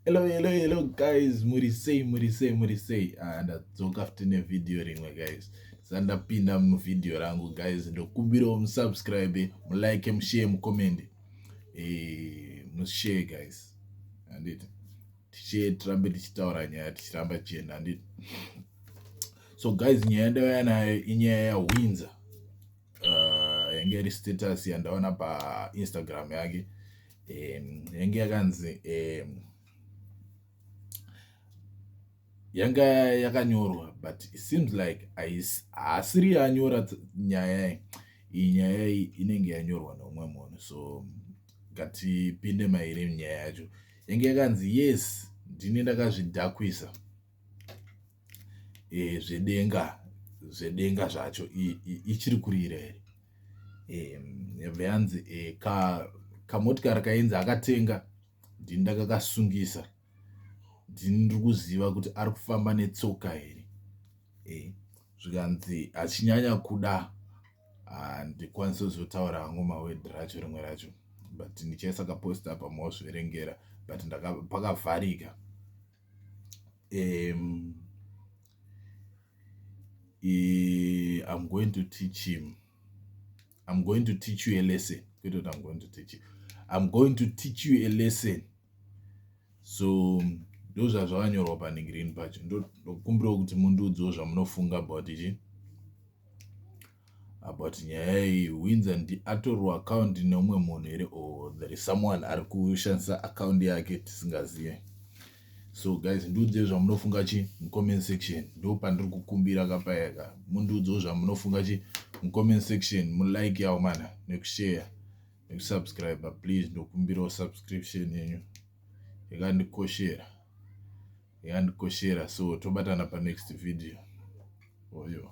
Hello, hello, hello guys, muri sei, muri sei, muri sei. Ah, ndadzoka futi nevideo rimwe guys. Sandapinda muvideo rangu guys, ndokumbirawo musubscribe, mulike, mushare, mucomment. Eh, mushare guys. Anditi. Tichee tirambe tichitaura nyaya tichiramba tichienda anditi. So guys, nyaya ndavaya nayo inyaya yaWindsor. uh, yange iri status yandaona painstagram yake um, yange yakanzi um, yanga yakanyorwa but it seems like haasiri yanyora nyaya iyi nyaya iyi inenge yanyorwa neumwe munhu so ngatipinde mairi nyaya yacho yange yakanzi yes ndini ndakazvidhakwisa zvedenga zvedenga zvacho ichiri kurira here yobva yanzi kamotikari kainzi akatenga ndini ndakakasungisa ndini ndiri kuziva kuti ari kufamba netsoka here zvikanzi achinyanya kuda handikwanisi kuzotaura hangu mawedhi racho rimwe racho but ndichaisa kaposta apa mozviverengera but pakavharika um i am going to teach him i'm going to teach you a lesson kwete kuti i'm going to teach you i'm going to teach you a lesson so ndozvazvakanyorwa panhingirini pacho ndokumbirawo kuti mundiudziwo zvamunofunga about ichi But nyaya iyi Windsor ndi atorwa account neumwe munhu here or there is someone ari kushandisa account yake tisingazive. So guys ndiudzei zvamunofunga chi mucomment section ndo pandiri kukumbira kapayaka mundiudzewo zvamunofunga chi mucomment section mulike yawo mana nekushare nekusubscribe please ndokumbirawo subscription yenyu yakandikoshera. yandikoshera so tobatana panext video oyo